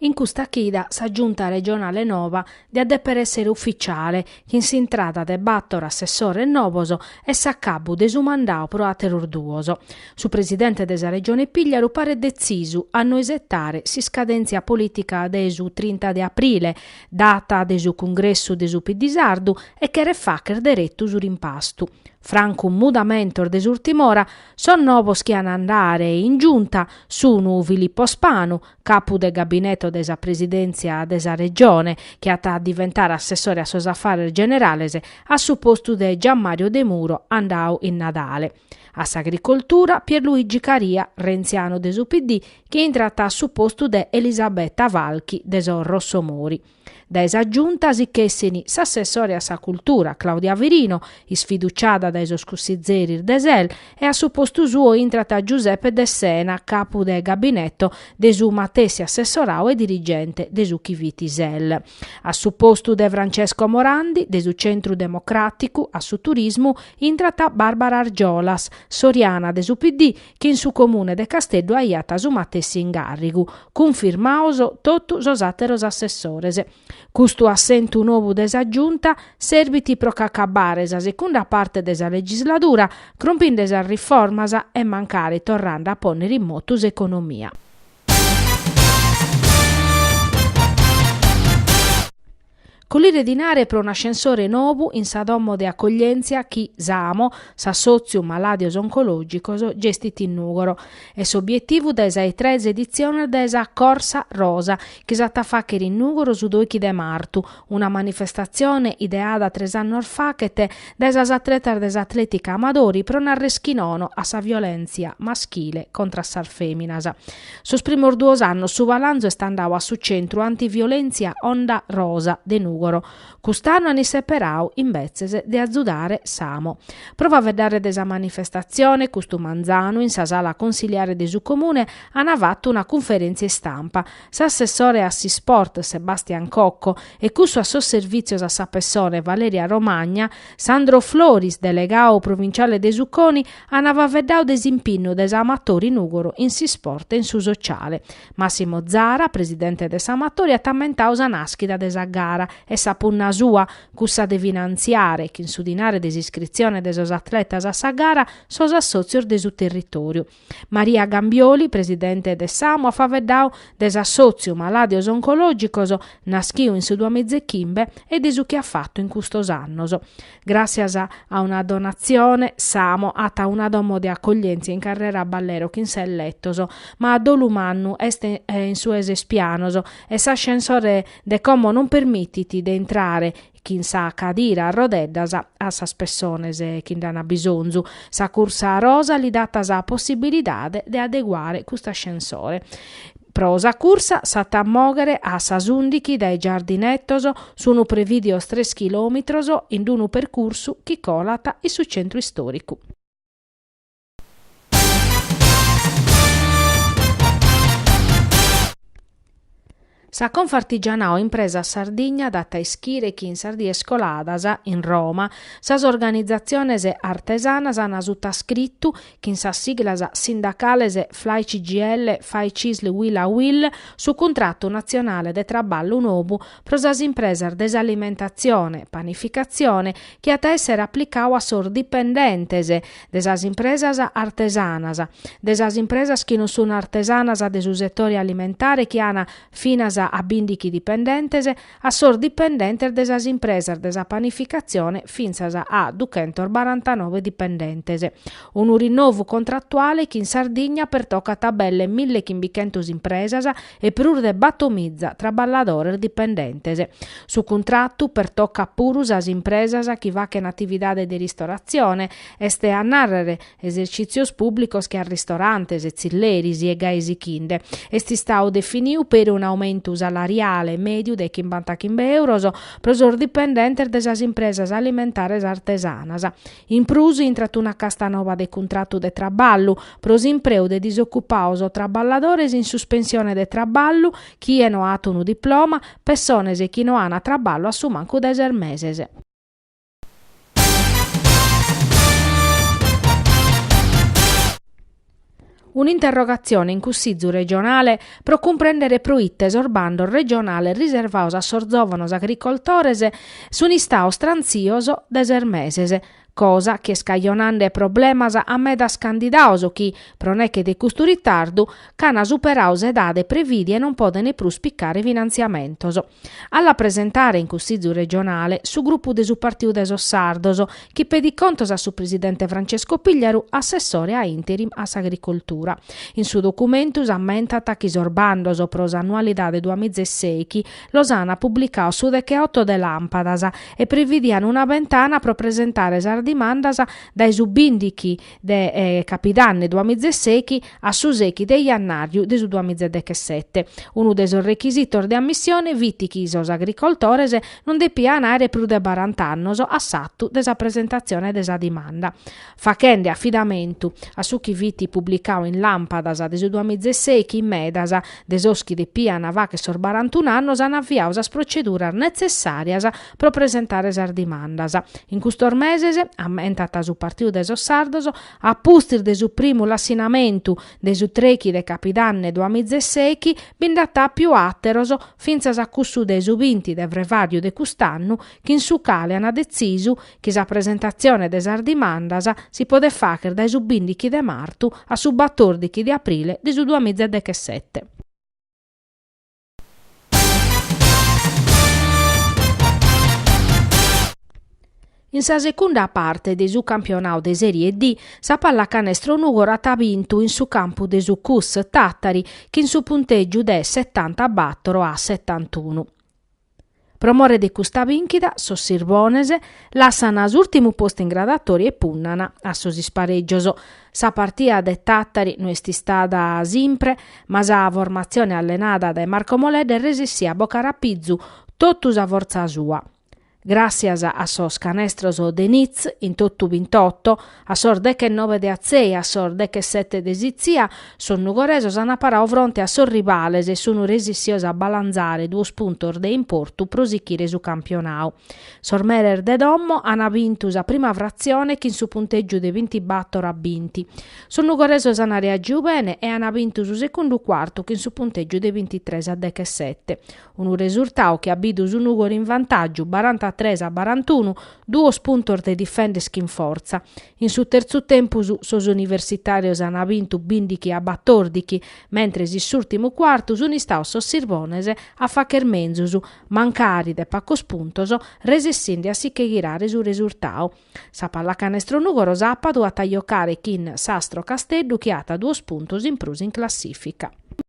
In custa chida sa Giunta regionale nova diat dèpere èssere ufitziale, chin s'intrada de bàtoro assessores novos e s'acabbu de su mandadu pro àteros duos. Su presidente de sa Regione Pigliaru paret detzisu a no isetare s'iscadèntzia polìtica de su trinta de aprile, data de su cungressu de su PD sardu e cheret fàghere deretu su rimpastu. Francu mudamentos de s'ùrtima ora Sos novos chi an a andare in Giunta sun Filippo Spanu, capu de gabineto de sa Presidèntzia de sa Regione, chi at a diventare assessore a sos afares generales a su postu de Gianmario Demuro andadu in Nadale, a s'Agricoltura Pierluigi Caria, rentzianu de su PD, chi intrat a su postu de Elisabetta Falchi de sos Rossomori. Dae sa Giunta si ch'essin s'assessore a sa Cultura, Claudia Firino, isfiduciada dae sos cussizeris de SEL e a su postu suo intrat Giuseppe Dessena, capu de gabinetto de su matessi assessoradu e dirigente de su chi fit SEL. A su postu de Francesco Morandi, de su Centru Democràticu, a su Turismu intrat Barbara Argiolas, soriana de su PD, chi in su Comune de Casteddu aiat su matessi incàrrigu, cunfirmados totu sos àteros assessores. Custu assentu nou de sa Giunta serbit pro ch'acabare sa segunda parte de sa legisladura crompinde sas riformas e mancari torrande a pònnere in motu s'economia. Collire dinare pro un ascensore nobu in sa domo de acoglièntzia chi s'AMO, s'Assòtziu Malàdios Oncològicos, gestit in Nùgoro. Est s'obietivu dae sa 'e tres editziones de sa Corsa Rosa, chi s'at a fàghere in Nùgoro su doighi de martu, una manifestatzione ideada tres annos faghet dae sas atletas de s'Atlètica Amatori pro narrer chi nono a sa violèntzia maschile contra a sas fèminas. Sos primos duos annos su balanzu est andadu a su centru antiviolèntzia Onda Rosa de Nùgoro. Cust'annu an isseperadu, imbetzes, de azudare s'AMO. Pro faeddare de sa manifestatzione, custu manzanu, in sa sala consiliare de su Comune, an fatu una cunferèntzia istampa, s'assessore a s'isport, Sebastian Cocco, e cussu a sos servìtzios a sa pessone, Valeria Romagna, Sandro Floris, delegadu provinciale de su CONI, An faveddau de s'impinnu de s'Amatori Nùgoro in s'isport e in su sociale. Massimo Zara, presidente de s'Amatori at ammentau sa nàschida de sa gara e sa punna sua, cussa de finantziare, chin su dinare de s'iscritzione de sos atletas a sa gara, sos assòtzios de su territòriu. Maria Gambioli, presidente de s'AMO at faveddau de s'assòtziu Malàdios Oncològicos, naschiu in su duamizechimbe e de su chi at fatu in custos annos. Gràssias a una donatzione s'AMO at una domo de acoglièntzia in carrera Ballero chin ses letos, ma a dolu mannu est in su 'e ses pianos e s'ascensore de como non permitit de intrare chin sa cadira a rodeddas a sas pessones chi nd'an bisonzu. Sa cursa rosa li dat sa possibilidade de adeguare cust'ascensore. Pro sa cursa s'at a mòghere a sas ùndichi dae Giardinetos, sunt prevìdios tres chilòmitros in unu percursu chi colat in su centru istòricu. Sa Confartigianato Impresas Sardigna dat a ischire chi in sas dies coladas, in Roma, sas organizatziones artesanas an sutascritu chin sas siglas sindacales Flai Cgil, Fai Cisl, Uila Uil, su cuntratu natzionale de traballu nobu pro sas impresas de s'alimentatzione, panificatzione, chi at a èssere aplicadu a sos dipendentes de sas impresas artesanas, de sas impresas chi non sun artesanas de su setore alimentare chi an finas a bìndichi dipendentes, a sos dipendentes de sas impresas de sa panificatzione fintzas a duchentos barantanobe dipendentes. Unu rinnovu contrattuale chi in Sardigna pertocat a belle milli chimbichentos impresas e prus de battomiza traballadores dipendentes. Su cuntratu pertocat puru sas impresas chi fachen atividade de ristoratzione, est a nàrrere, esercìtzios pùblicos che a ristorantes, tzilleris e gai sichinde, est istau definiu peri un aumentu salariale mèdiu de chimbantachimbe euros pro sos dipendentes de sas impresas alimentares artesanas. In prus intrat una casta noba de cuntratu de traballu pro s'impreu de disocupaos o traballadores in suspensione de traballu, chie no at unu diploma, pessones chi no an traballu a su mancu de ses meses. Un'interrogatzione in Cussizu regionale pro cumprèndere pro ite sos bandos regionales riservados a sos zòvanos agricoltores sun istados trantzios de ses meses, cosa chi est cajonande problemas a medas candidados chi, pro neche de custu ritardu, ch'an superadu s'edade prevìdia e non podent prus picare finantziamentos. A la presentare in Cussizu regionale su grupu de su Partiu de sos Sardos, chi pedit contos a su presidente Francesco Pigliaru, assessore a interim a s'Agricoltura. In su documentu s'ammentant chi sos bandos pro s'annualidade duamiza e sèichi los an publicaos su decheoto de Làmpadas e previdian una bentana pro presentare sas dimandas dae su bìndichi de capidanne duamizesechi a su sechi de jannàriu de su duamizedechesete. Unu de sos rechisitos de ammissione fit chi sos agricoltores non depian àere prus de barant'annos a s'atu de sa presentatzione de sa dimanda. Fachende afidamentu a su chi fit publicau in Làmpadas de su duamizesechi, medas de sos chi depian fàchere sos barantun'annos an aviau sas proceduras netzessàrias pro presentare sas dimandas. In custos meses, ammentat su Partidu de sos Sardos, a pustis de su primu lassinamentu de su trechi de capidanne duamiza e sechi, bi nd'at àpiu àteros, fintzas a cussu de su binti de frevàriu de cust'annu, chin su cale an detzisu chi sa presentatzione de sas dimandas si podet fàghere dae su bindichi de martu a su batòrdichi de aprile de su duamiza e dechesete. In sa secunda parte de su campionau de Serie D, sa Pallacanestro Nùgoro at bintu in su campu de su Cus Tàtari chin su puntègiu de setantabator a setantunu. Pro more de custa bìnchida, sos Sirbones lassana s'ùrtimu postu in gradatòria e punnana a sos isparègios. Sa partia de Tàtari no est istada simpre, ma sa formatzione allenada dae Marco Moledda est resessia a bocare a pizu totu sa fortza sua. Gràtzias a sos canestros de Nitz in totu bintotto, A sos dechenobe de Atzei a sos dechesete de Sitzia, sos nugoresos an parau fronte a sos rivales e sun resissios a balanzare duos puntos de importu pro sichire su campionau. Sos meres de domo an bintu sa prima fratzione chin su punteggiu de bintibator a binti. Sos nugoresos an reagiu bene e an bintu su secundu cuartu chin su punteggiu de bintitres a dechesete. Unu resurtadu chi at bidu su Nùgoro in vantaggiu barantatres a barantunu Duos puntos de difender chin fortza. In su terzu tempus sos universitàrios an bintu bìndichi a batòrdichi, mentres in s'ùrtimu cuartu sun istaos sos Sirbones a facher menzus, mancari de pacos puntos, resessinde a si che ghirare su resurtadu. Sa Pallacanestro Nùgoro sàpadu at a jocare chin s'Astro Casteddu chi at duos puntos in prus in classìfica.